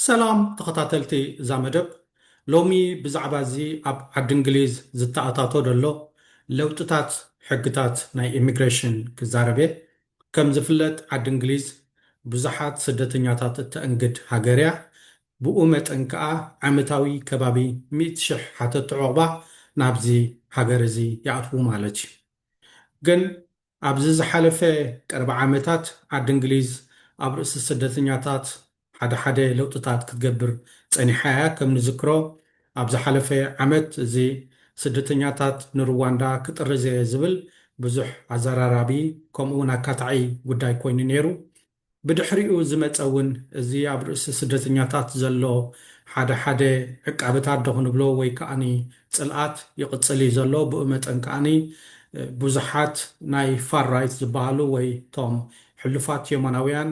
ሰላም ተኸታተልቲ እዛ መደብ ሎሚ ብዛዕባ እዚ ኣብ ዓዲ እንግሊዝ ዝተኣታቶ ዘሎ ለውጥታት ሕግታት ናይ ኢሚግሬሽን ክዛረብ እየ ከም ዝፍለጥ ዓዲ እንግሊዝ ብዙሓት ስደተኛታት እተእንግድ ሃገር እያ። ብኡ መጠን ከኣ ዓመታዊ ከባቢ ሚእቲ ሽሕ ሓተቲ ዑቕባ ናብዚ ሃገር እዚ ይኣትዉ ማለት እዩ። ግን ኣብዚ ዝሓለፈ ቀረባ ዓመታት ዓዲ እንግሊዝ ኣብ ርእሲ ስደተኛታት ሓደ ሓደ ለውጥታት ክትገብር ጸኒሓ እያ። ከም ንዝክሮ ኣብ ዝሓለፈ ዓመት እዚ ስደተኛታት ንሩዋንዳ ክጥርዝ እየ ዝብል ብዙሕ ኣዘራራቢ ከምኡ'ውን ኣካታዒ ጉዳይ ኮይኑ ነይሩ። ብድሕሪኡ ዝመጸ እውን እዚ ኣብ ርእሲ ስደተኛታት ዘሎ ሓደ ሓደ ዕቃበታት ዶ ክንብሎ ወይ ከኣ ጽልኣት ይቕጽል እዩ ዘሎ። ብኡ መጠን ከኣ ብዙሓት ናይ ፋር ራይት ዝበሃሉ ወይ እቶም ሕሉፋት የማናውያን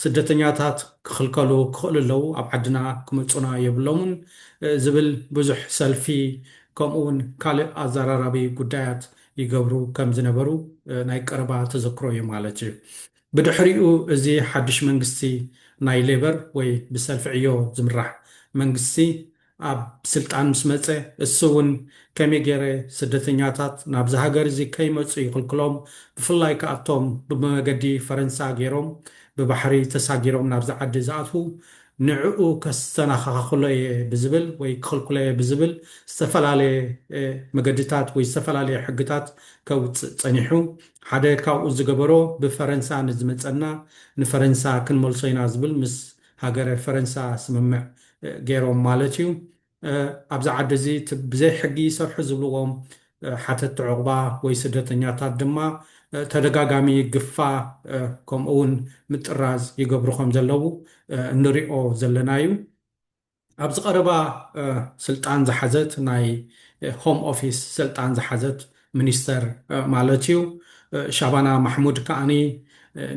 ስደተኛታት ክኽልከሉ ክኽእሉ ኣለዉ፣ ኣብ ዓድና ክመጹና የብሎምን ዝብል ብዙሕ ሰልፊ ከምኡ'ውን ካልእ ኣዘራራቢ ጉዳያት ይገብሩ ከም ዝነበሩ ናይ ቀረባ ተዘክሮ'ዩ ማለት እዩ። ብድሕሪኡ እዚ ሓድሽ መንግስቲ ናይ ሌበር ወይ ብሰልፊ ዕዮ ዝምራሕ መንግስቲ ኣብ ስልጣን ምስ መጸ እሱ ውን ከመይ ጌረ ስደተኛታት ናብዚ ሃገር እዚ ከይመጹ ይኽልክሎም ብፍላይ ከኣ እቶም ብመገዲ ፈረንሳ ጌሮም ብባሕሪ ተሳጊሮም ናብዚ ዓዲ ዝኣትዉ ንዕኡ ከስተናኻኻኽሎ እየ ብዝብል ወይ ክኽልክሎ እየ ብዝብል ዝተፈላለየ መገድታት ወይ ዝተፈላለየ ሕግታት ከውጽእ ጸኒሑ ሓደ ካብኡ ዝገበሮ ብፈረንሳ ንዝመጸና ንፈረንሳ ክንመልሶ ኢና ዝብል ምስ ሃገረ ፈረንሳ ስምምዕ ገይሮም ማለት እዩ። ኣብዚ ዓዲ እዚ እቲ ብዘይ ሕጊ ይሰርሑ ዝብልዎም ሓተቲ ዑቕባ ወይ ስደተኛታት ድማ ተደጋጋሚ ግፋ ከምኡ'ውን ምጥራዝ ይገብሩ ከም ዘለዉ እንሪኦ ዘለና እዩ። ኣብዚ ቀረባ ስልጣን ዝሓዘት ናይ ሆም ኦፊስ ስልጣን ዝሓዘት ሚኒስተር ማለት እዩ ሻባና ማሕሙድ ከኣ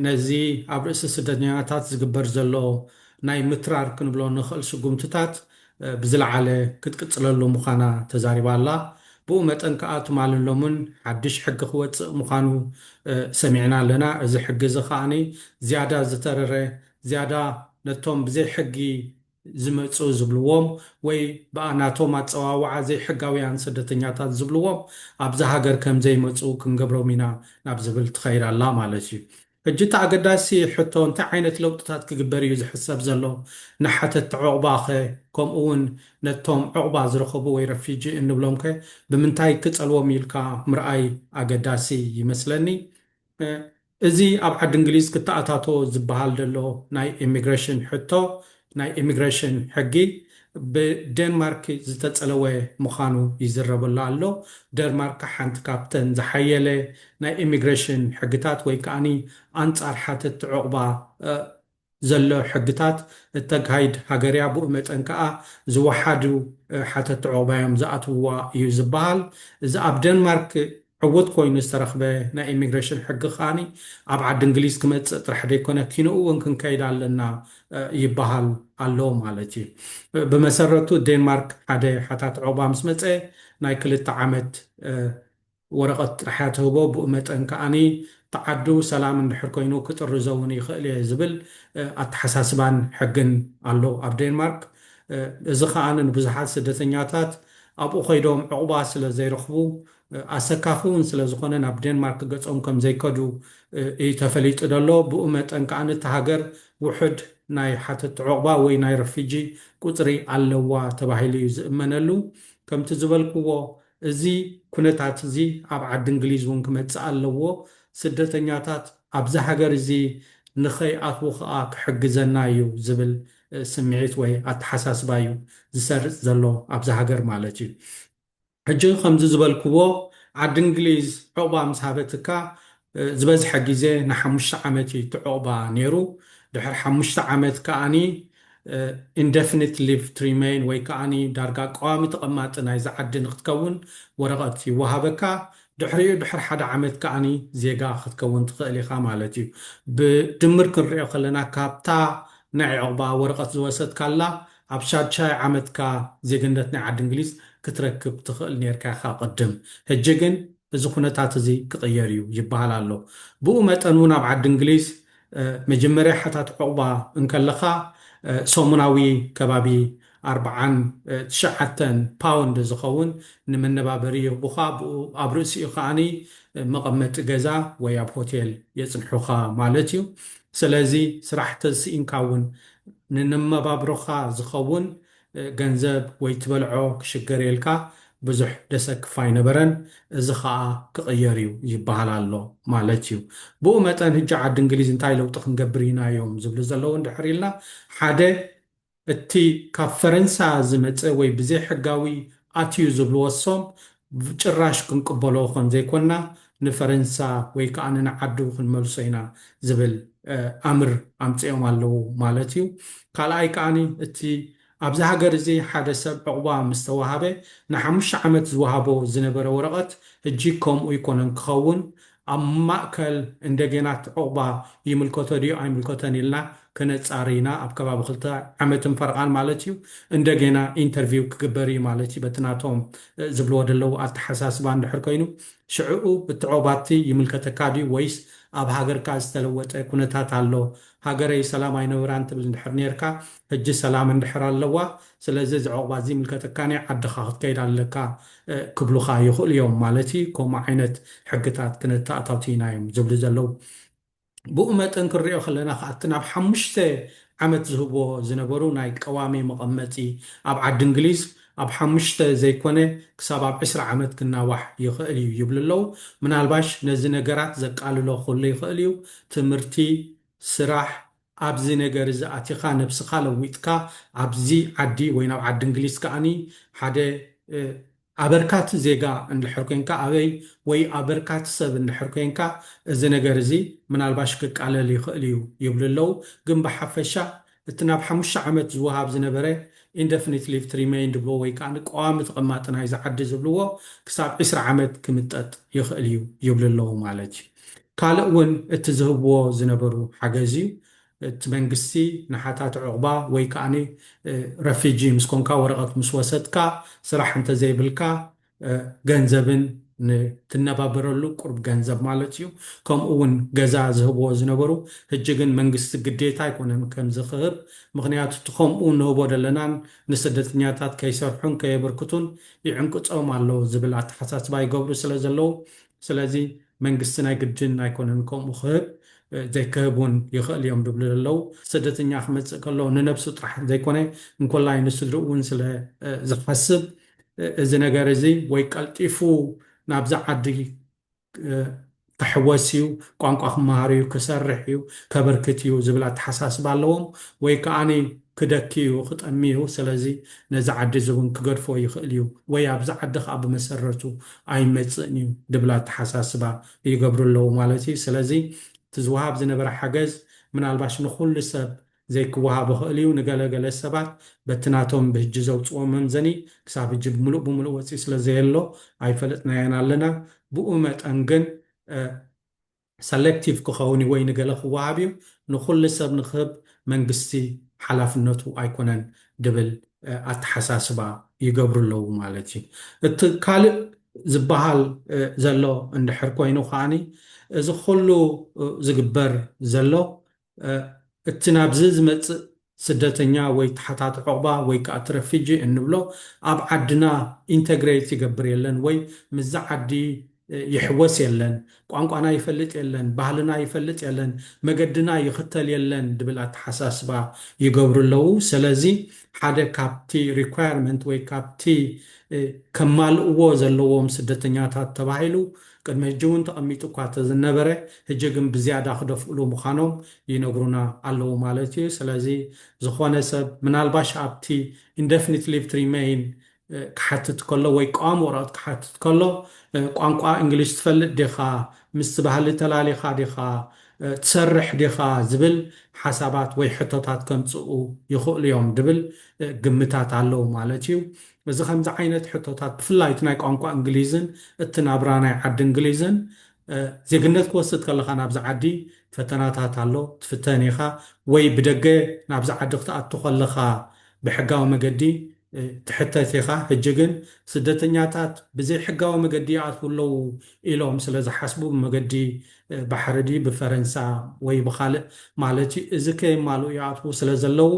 ነዚ ኣብ ርእሲ ስደተኛታት ዝግበር ዘሎ ናይ ምትራር ክንብሎ ንኽእል ስጉምትታት ብዝለዓለ ክትቅጽለሉ ምዃና ተዛሪባ ኣላ። ብኡ መጠን ከኣ ትማልን ሎምን ሓድሽ ሕጊ ክወጽእ ምዃኑ ሰሚዕና ኣለና። እዚ ሕጊ እዚ ከኣ ዝያዳ ዝተረረ ዝያዳ ነቶም ብዘይ ሕጊ ዝመጽኡ ዝብልዎም ወይ ብኣ ናቶም ኣጸዋውዓ ዘይሕጋውያን ስደተኛታት ዝብልዎም ኣብዛ ሃገር ከም ዘይመጽኡ ክንገብሮም ኢና ናብ ዝብል ትኸይድ ኣላ ማለት እዩ። ሕጂ እቲ ኣገዳሲ ሕቶ እንታይ ዓይነት ለውጥታት ክግበር እዩ ዝሕሰብ ዘሎ? ንሓተቲ ዑቕባኸ ከምኡ'ውን ነቶም ዑቕባ ዝረኸቡ ወይ ረፊጂ እንብሎምከ ብምንታይ ክጸልዎም ኢልካ ምርኣይ ኣገዳሲ ይመስለኒ። እዚ ኣብ ዓዲ እንግሊዝ ክተኣታቶ ዝበሃል ዘሎ ናይ ኤሚግረሽን ሕቶ ናይ ኤሚግረሽን ሕጊ ብደንማርክ ዝተጸለወ ምዃኑ ይዝረበሉ ኣሎ። ደንማርክ ሓንቲ ካብተን ዝሓየለ ናይ ኤሚግረሽን ሕግታት ወይ ከኣ ኣንጻር ሓተቲ ዑቕባ ዘሎ ሕግታት እተጋሂድ ሃገር'ያ፣ ብኡ መጠን ከኣ ዝወሓዱ ሓተቲ ዑቕባ'ዮም ዝኣትውዋ እዩ ዝበሃል። እዚ ኣብ ደንማርክ ዕዉት ኮይኑ ዝተረኽበ ናይ ኢሚግሬሽን ሕጊ ከኣ ኣብ ዓዲ እንግሊዝ ክመጽእ ጥራሕ ዘይኮነ ኪኖኡ'ውን ክንከይድ ኣለና ይበሃል ኣሎ ማለት እዩ። ብመሰረቱ ደንማርክ ሓደ ሓታቲ ዑቕባ ምስ መጸ ናይ ክልተ ዓመት ወረቐት ጥራሕ እያ ትህቦ፣ ብኡ መጠን ከኣ ብዓዱ ሰላም እንድሕር ኮይኑ ክጥርዞ እውን ይኽእል እየ ዝብል ኣተሓሳስባን ሕግን ኣሎ ኣብ ዴንማርክ። እዚ ከኣ ንብዙሓት ስደተኛታት ኣብኡ ከይዶም ዕቝባ ስለ ዘይረኽቡ ኣሰካፊ እውን ስለ ዝዀነ ናብ ዴንማርክ ገጾም ከም ዘይከዱ እዩ ተፈሊጡ ዘሎ። ብኡ መጠን ከኣ እታ ሃገር ውሑድ ናይ ሓተትቲ ዕቝባ ወይ ናይ ረፊጂ ቍጽሪ ኣለዋ ተባሂሉ እዩ ዝእመነሉ። ከምቲ ዝበልክዎ እዚ ኩነታት እዚ ኣብ ዓዲ እንግሊዝ እውን ክመጽእ ኣለዎ፣ ስደተኛታት ኣብዚ ሃገር እዚ ንኸይኣትዉ ከኣ ክሕግዘና እዩ ዝብል ስምዒት ወይ ኣተሓሳስባ እዩ ዝሰርጽ ዘሎ ኣብዚ ሃገር ማለት እዩ። ሕጂ ከምዚ ዝበልክዎ ዓዲ እንግሊዝ ዑቕባ ምስ ሃበትካ ዝበዝሐ ግዜ ንሓሙሽተ ዓመት እዩ እቲ ዑቕባ ነይሩ። ድሕሪ ሓሙሽተ ዓመት ከኣ Indefinite Leave to Remain ወይ ከኣ ዳርጋ ቀዋሚ ተቐማጢ ናይዚ ዓዲ ንኽትከውን ወረቐት ይወሃበካ። ድሕሪኡ ድሕሪ ሓደ ዓመት ከኣ ዜጋ ክትከውን ትኽእል ኢኻ ማለት እዩ። ብድምር ክንርእዮ ከለና ካብታ ናይ ዑቕባ ወረቐት ዝወሰድካላ ኣብ ሻድሻይ ዓመትካ ዜግነት ናይ ዓዲ እንግሊዝ ክትረክብ ትኽእል ኔርካ ኢኻ ቅድም። ሕጂ ግን እዚ ኩነታት እዚ ክቕየር እዩ ይበሃል ኣሎ። ብኡ መጠን እውን ኣብ ዓዲ እንግሊዝ መጀመርያ ሓታቲ ዑቕባ እንከለኻ ሰሙናዊ ከባቢ ኣርብዓን ትሽዓተን ፓውንድ ዝኸውን ንመነባበሪ ይህቡኻ፣ ብኡ ኣብ ርእሲኡ ከኣ መቐመጢ ገዛ ወይ ኣብ ሆቴል የጽንሑኻ ማለት እዩ። ሰለዚ ስራሕ ተዝስኢንካ እውን ንንመባብሮኻ ዝኸውን ገንዘብ ወይ ትበልዖ ክሽገርየልካ ብዙሕ ደሰክፍ ኣይነበረን እዚ ኸኣ ክቕየር እዩ ይበሃል ኣሎ ማለት እዩ። ብኡ መጠን ህጂ ዓዲ እንግሊዝ እንታይ ለውጢ ክንገብር ኢና እዮም ዝብሉ ዘለዉ እንድሕር ኢልና ሓደ እቲ ካብ ፈረንሳ ዝመጸ ወይ ብዘይሕጋዊ ኣትዩ ዝብልዎ ሶም ብጭራሽ ክንቅበሎ ከም ዘይኮና ንፈረንሳ ወይ ከኣ ንንዓዱ ክንመልሶ ኢና ዝብል ኣምር ኣምጺኦም ኣለዉ ማለት እዩ። ካልኣይ ከኣ እቲ ኣብዚ ሃገር እዚ ሓደ ሰብ ዑቕባ ምስ ተዋሃበ ንሓሙሽተ ዓመት ዝወሃቦ ዝነበረ ወረቐት ህጂ ከምኡ ኣይኮነን ክኸውን ኣብ ማእከል እንደገናት ዑቕባ ይምልከቶ ድዩ ኣይምልከቶን ኢልና ከነጻሪ ኢና፣ ኣብ ከባቢ ክልተ ዓመትን ፈረቓን ማለት እዩ፣ እንደገና ኢንተርቪው ክግበር እዩ ማለት እዩ፣ በቲ ናቶም ዝብልዎ ደለዉ ኣተሓሳስባ እንድሕር ኮይኑ፣ ሽዕኡ እቲ ዑቕባቲ ይምልከተካ ድዩ ወይስ ኣብ ሃገርካ ዝተለወጠ ኩነታት ኣሎ፣ ሃገረይ ሰላም ኣይነበራን ትብል እንድሕር ኔርካ ሕጂ ሰላም እንድሕር ኣለዋ ስለዚ እዚ ዑቕባ ዝይምልከተካ ናይ ዓድኻ ክትከይድ ኣለካ ክብሉኻ ይኽእሉ እዮም ማለት እዩ ከምኡ ዓይነት ሕግታት ክነተኣታቱይና እዮም ዝብሉ ዘለዉ ብኡ መጠን ክንሪኦ ከለና ከኣ እቲ ናብ ሓሙሽተ ዓመት ዝህብዎ ዝነበሩ ናይ ቀዋሚ መቐመጢ ኣብ ዓዲ እንግሊዝ ኣብ ሓሙሽተ ዘይኮነ ክሳብ ኣብ ዕስራ ዓመት ክናዋሕ ይኽእል እዩ ይብሉ ኣለዉ ምናልባሽ ነዚ ነገራት ዘቃልሎ ክህሉ ይኽእል እዩ ትምህርቲ ስራሕ ኣብዚ ነገር እዚ ኣቲኻ ነብስኻ ለዊጥካ ኣብዚ ዓዲ ወይ ናብ ዓዲ እንግሊዝ ከኣ ሓደ ኣበርካቲ ዜጋ እንድሕር ኮንካ ኣበይ ወይ ኣበርካቲ ሰብ እንድሕር ኮንካ እዚ ነገር እዚ ምናልባሽ ክቃለል ይኽእል እዩ ይብሉ ኣለዉ ግን ብሓፈሻ እቲ ናብ ሓሙሽተ ዓመት ዝወሃብ ዝነበረ Indefinite Leave to Remain ድብልዎ ወይ ከኣ ቀዋሚ ተቐማጢ ናይዚ ዓዲ ዝብልዎ ክሳብ ዕስራ ዓመት ክምጠጥ ይኽእል እዩ ይብሉ ኣለዉ ማለት እዩ። ካልእ ውን እቲ ዝህብዎ ዝነበሩ ሓገዝ እዩ። እቲ መንግስቲ ንሓታቲ ዑቕባ ወይ ከኣ ረፊጂ ምስ ኮንካ ወረቐት ምስ ወሰድካ ስራሕ እንተዘይብልካ ገንዘብን ንትነባበረሉ ቁሩብ ገንዘብ ማለት እዩ ከምኡ ውን ገዛ ዝህብዎ ዝነበሩ ህጂ ግን መንግስቲ ግዴታ ኣይኮነን ከምዚ ክህብ ምኽንያቱ እቲ ከምኡ ንህቦ ደለናን ንስደተኛታት ከይሰርሑን ከየብርክቱን ይዕንቅጾም ኣሎ ዝብል ኣተሓሳስባ ይገብሩ ስለ ዘለዉ ስለዚ መንግስቲ ናይ ግድን ኣይኮነን ከምኡ ክህብ ዘይክህብ ውን ይኽእል እዮም ዝብሉ ዘለዉ። ስደተኛ ክመጽእ ከሎ ንነብሱ ጥራሕ ዘይኮነ እንኮላይ ንስድርኡ ውን ስለ ዝሓስብ እዚ ነገር እዚ ወይ ቀልጢፉ ናብዛ ዓዲ ክሕወስ እዩ፣ ቋንቋ ክመሃር እዩ፣ ክሰርሕ እዩ፣ ከበርክት እዩ ዝብል ኣተሓሳስባ ኣለዎም። ወይ ከኣ ክደኪ እዩ፣ ክጠሚ እዩ፣ ስለዚ ነዚ ዓዲ እዚ ውን ክገድፎ ይኽእል እዩ ወይ ኣብዚ ዓዲ ከኣ ብመሰረቱ ኣይመጽእን እዩ ድብል ኣተሓሳስባ ይገብሩ ኣለዉ ማለት እዩ። ስለዚ እቲ ዝወሃብ ዝነበረ ሓገዝ ምናልባሽ ንኹሉ ሰብ ዘይክወሃብ ይኽእል እዩ። ንገለ ገለ ሰባት በቲ ናቶም ብህጂ ዘውጽዎ መምዘኒ ክሳብ ህጂ ብምሉእ ብምሉእ ወጺኡ ስለዘየሎ ኣይፈለጥናዮን ኣለና። ብኡ መጠን ግን ሰለክቲቭ ክኸውን እዩ ወይ ንገለ ክወሃብ እዩ ንኹሉ ሰብ ንክህብ መንግስቲ ሓላፍነቱ ኣይኮነን ድብል ኣተሓሳስባ ይገብሩ ኣለዉ ማለት እዩ። እቲ ካልእ ዝበሃል ዘሎ እንድሕር ኮይኑ ከኣ እዚ ኩሉ ዝግበር ዘሎ እቲ ናብዚ ዝመጽእ ስደተኛ ወይ ተሓታቲ ዑቕባ ወይ ከኣ እቲ ረፊጂ እንብሎ ኣብ ዓድና ኢንተግረይት ይገብር የለን ወይ ምስዛ ዓዲ ይሕወስ የለን፣ ቋንቋና ይፈልጥ የለን፣ ባህልና ይፈልጥ የለን፣ መገድና ይኽተል የለን ድብል ኣተሓሳስባ ይገብሩ ኣለዉ። ሰለዚ ሓደ ካብቲ ሪኳየርመንት ወይ ካብቲ ከማልእዎ ዘለዎም ስደተኛታት ተባሂሉ ቅድሚ ሕጂ እውን ተቐሚጡ እኳ ተዝነበረ ሕጂ ግን ብዝያዳ ክደፍእሉ ምዃኖም ይነግሩና ኣለዉ ማለት እዩ። ስለዚ ዝኾነ ሰብ ምናልባሽ ኣብቲ Indefinite Leave to Remain ክሓትት ከሎ ወይ ቀዋሚ ወረቐት ክሓትት ከሎ ቋንቋ እንግሊሽ ትፈልጥ ዲኻ፣ ምስቲ ባህሊ ተላሊኻ ዲኻ፣ ትሰርሕ ዲኻ ዝብል ሓሳባት ወይ ሕቶታት ከምጽኡ ይኽእሉ እዮም ድብል ግምታት ኣለዉ ማለት እዩ። እዚ ከምዚ ዓይነት ሕቶታት ብፍላይ እቲ ናይ ቋንቋ እንግሊዝን እቲ ናብራ ናይ ዓዲ እንግሊዝን ዜግነት ክወስድ ከለኻ ናብዚ ዓዲ ፈተናታት ኣሎ ትፍተን ኢኻ ወይ ብደገ ናብዚ ዓዲ ክትኣቱ ከለኻ ብሕጋዊ መገዲ ትሕተት ኢኻ ህጂ ግን ስደተኛታት ብዘይ ሕጋዊ መገዲ ይኣትዉ ኣለዉ ኢሎም ስለ ዝሓስቡ ብመገዲ ባሕሪ ድዩ ብፈረንሳ ወይ ብኻልእ ማለት እዩ እዚ ከየማልኡ ይኣትዉ ስለ ዘለዉ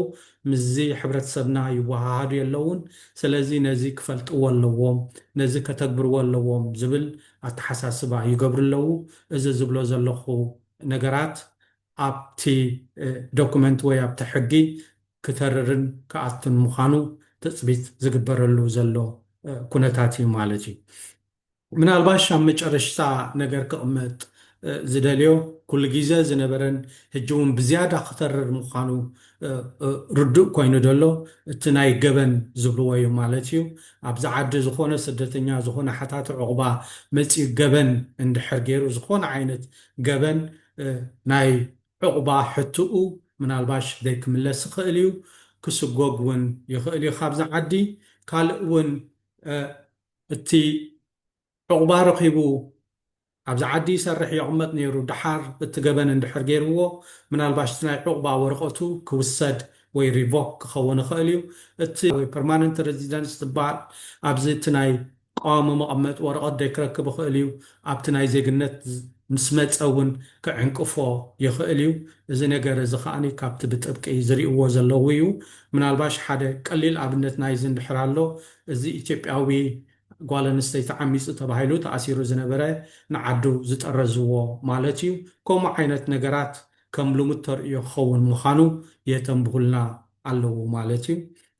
ምስዚ ሕብረተሰብና ይወሃሃዱ የለዉን፣ ሰለዚ ነዚ ክፈልጥዎ ኣለዎም፣ ነዚ ከተግብርዎ ኣለዎም ዝብል ኣተሓሳስባ ይገብሩ ኣለዉ። እዚ ዝብሎ ዘለኹ ነገራት ኣብቲ ዶኩመንት ወይ ኣብቲ ሕጊ ክተርርን ክኣቱን ምዃኑ ትጽቢት ዝግበረሉ ዘሎ ኩነታት እዩ ማለት እዩ። ምናልባሽ ኣብ መጨረሽታ ነገር ክቕመጥ ዝደልዮ፣ ኩሉ ጊዘ ዝነበረን ህጂ ውን ብዝያዳ ክተርር ምዃኑ ርዱእ ኮይኑ ደሎ እቲ ናይ ገበን ዝብልዎ ዩ ማለት ዩ። ኣብዚ ዓዲ ዝኾነ ስደተኛ ዝኾነ ሓታቲ ዑቕባ መጺኡ ገበን እንድሕር ጌሩ ዝኾነ ዓይነት ገበን ናይ ዑቕባ ሕትኡ ምናልባሽ ዘይክምለስ ይኽእል ዩ፣ ክስጎግ ውን ይኽእል ዩ ካብዚ ዓዲ። ካልእ ውን እቲ ዑቕባ ረኺቡ ኣብዚ ዓዲ ይሰርሕ የቕመጥ ነይሩ ደሓር እቲ ገበን እንድሕር ገይርዎ ምናልባሽ እቲ ናይ ዑቕባ ወረቐቱ ክውሰድ ወይ ሪቮክ ክኸውን ይኽእል እዩ እቲ ፐርማነንት ረዚደንስ ዝባል ኣብዚ እቲ ናይ ቋዋሚ መቐመጢ ወረቐት ዶ ክረክብ ይኽእል እዩ ኣብቲ ናይ ዜግነት ምስ መጸ እውን ክዕንቅፎ ይኽእል እዩ እዚ ነገር እዚ ከኣ ካብቲ ብጥብቂ ዝሪእዎ ዘለዉ እዩ ምናልባሽ ሓደ ቀሊል ኣብነት ናይዚ እንድሕር ኣሎ እዚ ኢትዮጵያዊ ጓል ኣንስተይቲ ዓሚጹ ተባሂሉ ተኣሲሩ ዝነበረ ንዓዱ ዝጠረዝዎ ማለት እዩ። ከምኡ ዓይነት ነገራት ከም ልሙድ ተርእዮ ክኸውን ምዃኑ የተንብሁልና ኣለዉ ማለት እዩ።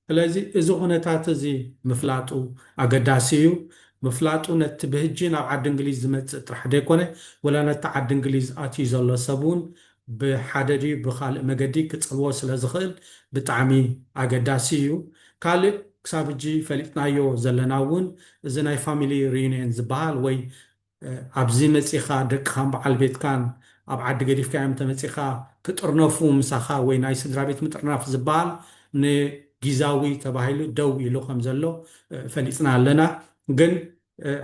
ስለዚ እዚ ኩነታት እዚ ምፍላጡ ኣገዳሲ እዩ። ምፍላጡ ነቲ ብህጂ ናብ ዓዲ እንግሊዝ ዝመጽእ ጥራሕ ዘይኮነ ወላ ነቲ ዓዲ እንግሊዝ ኣትዩ ዘሎ ሰብ እውን ብሓደ ድዩ ብኻልእ መገዲ ክጸልዎ ስለ ዝኽእል ብጣዕሚ ኣገዳሲ እዩ። ካልእ ክሳብ ሕጂ ፈሊጥናዮ ዘለና እውን እዚ ናይ ፋሚሊ ሪዩንየን ዝበሃል ወይ ኣብዚ መጺኻ ደቅኻን በዓል ቤትካን ኣብ ዓዲ ገዲፍካዮም እንተመጺኻ ክጥርነፉ ምሳኻ ወይ ናይ ስድራቤት ምጥርናፍ ዝበሃል ንጊዛዊ ተባሂሉ ደው ኢሉ ከም ዘሎ ፈሊጥና ኣለና ግን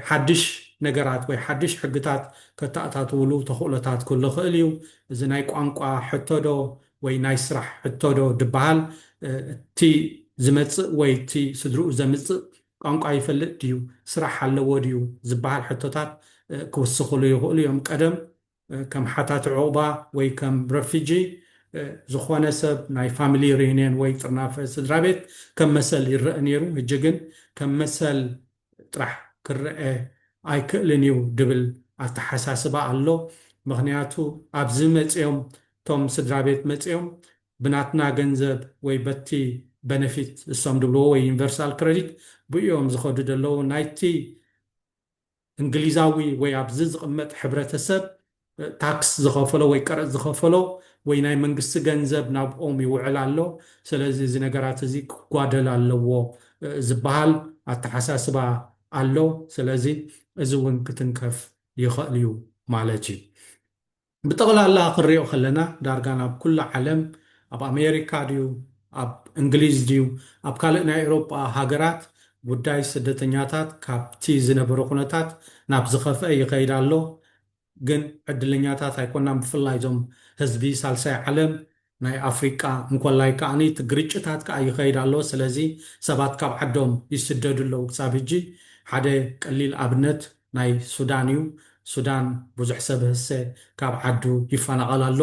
ሓድሽ ነገራት ወይ ሓድሽ ሕግታት ከተኣታትውሉ ተኽእሎታት ክህሉ ይኽእል እዩ። እዚ ናይ ቋንቋ ሕቶ ዶ ወይ ናይ ስራሕ ሕቶ ዶ ድበሃል፣ እቲ ዝመጽእ ወይ እቲ ስድርኡ ዘምጽእ ቋንቋ ይፈልጥ ድዩ፣ ስራሕ ኣለዎ ድዩ ዝብሃል ሕቶታት ክውስኽሉ ይኽእሉ እዮም። ቀደም ከም ሓታቲ ዑቕባ ወይ ከም ረፊጂ ዝኾነ ሰብ ናይ ፋሚሊ ሪዩኔን ወይ ጥርናፈ ስድራቤት ከም መሰል ይረእ ነይሩ ህጂ ግን ከም መሰል ጥራሕ ክረእ ኣይክእልን እዩ ድብል ኣተሓሳስባ ኣሎ ምኽንያቱ ኣብዚ መጽዮም እቶም ስድራቤት መጽዮም ብናትና ገንዘብ ወይ በቲ በነፊት እሶም ድብልዎ ወይ ዩኒቨርሳል ክረዲት ብኡዮም ዝኸዱ ደለዉ ናይቲ እንግሊዛዊ ወይ ኣብዚ ዝቕመጥ ሕብረተሰብ ታክስ ዝኸፈሎ ወይ ቀረጽ ዝኸፈሎ ወይ ናይ መንግስቲ ገንዘብ ናብኦም ይውዕል ኣሎ፣ ሰለዚ እዚ ነገራት እዚ ክጓደል ኣለዎ ዝበሃል ኣተሓሳስባ ኣሎ። ሰለዚ እዚ እውን ክትንከፍ ይኸእል እዩ ማለት እዩ። ብጠቕላላ ክንሪኦ ከለና ዳርጋ ናብ ኩላ ዓለም ኣብ ኣሜሪካ ድዩ ኣብ እንግሊዝ ድዩ ኣብ ካልእ ናይ ኤሮጳ ሃገራት ጉዳይ ስደተኛታት ካብቲ ዝነበረ ኩነታት ናብ ዝኸፍኣ ይኸይድ ኣሎ ግን ዕድለኛታት ኣይኮናን ብፍላይ እዞም ህዝቢ ሳልሳይ ዓለም ናይ ኣፍሪቃ እንኮላይ ከኣ እቲ ግርጭታት ከኣ ይኸይድ ኣሎ ስለዚ ሰባት ካብ ዓዶም ይስደዱ ኣለዉ ክሳብ ህጂ ሓደ ቀሊል ኣብነት ናይ ሱዳን እዩ ሱዳን ብዙሕ ሰብ ህሰ ካብ ዓዱ ይፈናቐል ኣሎ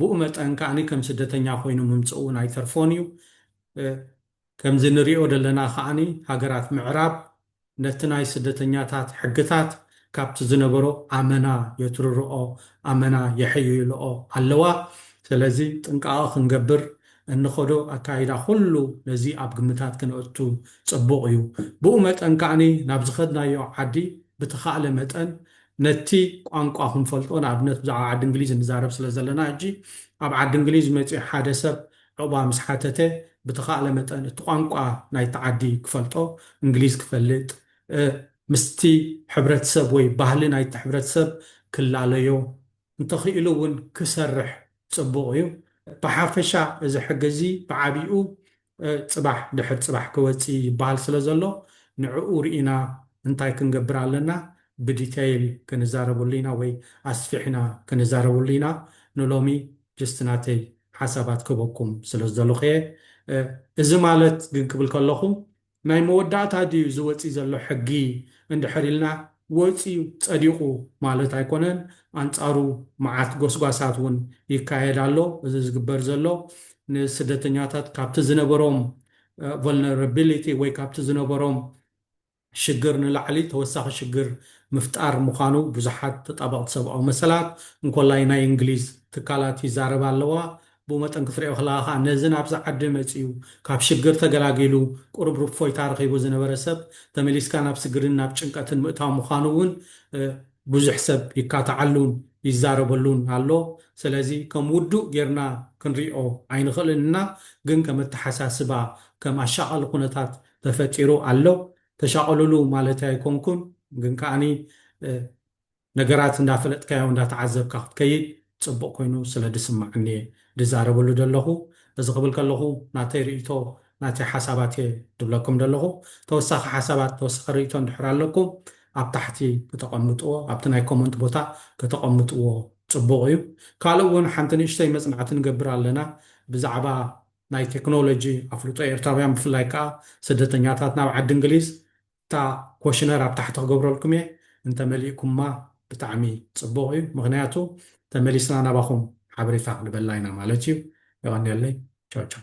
ብኡ መጠን ከኣ ከም ስደተኛ ኮይኑ ምምጽኡ ኣይተርፎን እዩ ከምዚ ንሪኦ ደለና ከኣኒ ሃገራት ምዕራብ ነቲ ናይ ስደተኛታት ሕግታት ካብቲ ዝነበሮ ኣመና የትርርኦ ኣመና የሕይልኦ ኣለዋ ሰለዚ ጥንቃቀ ክንገብር እንኸዶ ኣካይዳ ኩሉ ነዚ ኣብ ግምታት ክነእቱ ጽቡቅ እዩ ብኡ መጠን ከኣኒ ናብ ዝኸድናዮ ዓዲ ብተኻእለ መጠን ነቲ ቋንቋ ክንፈልጦ ንኣብነት ብዛዕባ ዓዲ እንግሊዝ ንዛረብ ስለ ዘለና ሕጂ ኣብ ዓዲ እንግሊዝ መጺኡ ሓደ ሰብ ዑቕባ ምስ ሓተተ ብተኻእለ መጠን እቲ ቋንቋ ናይቲ ዓዲ ክፈልጦ፣ እንግሊዝ ክፈልጥ፣ ምስቲ ሕብረተሰብ ወይ ባህሊ ናይቲ ሕብረተሰብ ክላለዮ፣ እንተኽኢሉ እውን ክሰርሕ ጽቡቕ እዩ። ብሓፈሻ እዚ ሕጊ እዚ ብዓቢኡ ጽባሕ ድሕሪ ጽባሕ ክወጽእ ይበሃል ስለ ዘሎ ንዕኡ ርኢና እንታይ ክንገብር ኣለና ብዲተይል ክንዛረበሉ ኢና ወይ ኣስፊሕና ክንዛረበሉ ኢና ንሎሚ ጅስት ናተይ ሓሳባት ክህበኩም ስለ ዝደለኹ እየ። እዚ ማለት ግን ክብል ከለኹ ናይ መወዳእታ ድዩ እዚ ወጺኡ ዘሎ ሕጊ እንድሕር ኢልና ወጺኡ ጸዲቑ ማለት ኣይኮነን። ኣንጻሩ መዓት ጎስጓሳት እውን ይካየድ ኣሎ። እዚ ዝግበር ዘሎ ንስደተኛታት ካብቲ ዝነበሮም ቮልነረቢሊቲ ወይ ካብቲ ዝነበሮም ሽግር ንላዕሊ ተወሳኺ ሽግር ምፍጣር ምዃኑ ብዙሓት ተጣበቕቲ ሰብኣዊ መሰላት፣ እንኮላይ ናይ እንግሊዝ ትካላት ይዛረባ ኣለዋ። ብኡ መጠን ክትሪኦ ከለኻ ከኣ ነዚ ናብዚ ዓዲ መጺኡ ካብ ሽግር ተገላጊሉ ቁሩብ ርፎይታ ረኺቡ ዝነበረ ሰብ ተመሊስካ ናብ ስግርን ናብ ጭንቀትን ምእታው ምዃኑ እውን ብዙሕ ሰብ ይካታዓሉን ይዛረበሉን ኣሎ። ሰለዚ ከም ውዱእ ጌርና ክንሪኦ ኣይንኽእልን እና ግን ከም ኣተሓሳስባ ከም ኣሻቓሊ ኩነታት ተፈጢሩ ኣሎ ተሻቀሉሉ ማለተይ ኣይኮንኩን ግን ከኣኒ ነገራት እንዳፈለጥካዮ እንዳተዓዘብካ ክትከይድ ጽቡቅ ኮይኑ ስለ ድስመዓኒ እየ ድዛረበሉ ደለኹ እዚ ክብል ከለኹ ናተይ ርእይቶ ናተይ ሓሳባት እየ ድብለኩም ደለኹ ተወሳኺ ሓሳባት ተወሳኺ ርእይቶ እንድሕር ኣለኩም ኣብ ታሕቲ ክተቀምጥዎ ኣብቲ ናይ ኮመንት ቦታ ከተቀምጥዎ ጽቡቅ እዩ ካልእ ውን ሓንቲ ንእሽተይ መጽናዕቲ ንገብር ኣለና ብዛዕባ ናይ ቴክኖሎጂ ኣፍልጦ ኤርትራውያን ብፍላይ ከኣ ስደተኛታት ናብ ዓዲ እንግሊዝ እታ ኮሽነር ኣብ ታሕቲ ክገብረልኩም እየ እንተ መሊእኩማ ብጣዕሚ ጽቡቅ እዩ ምኽንያቱ ተመሊስና ናባኹም ሓበሬታ ክንበላ ኢና ማለት እዩ የቀንየለይ ቻው ቻው።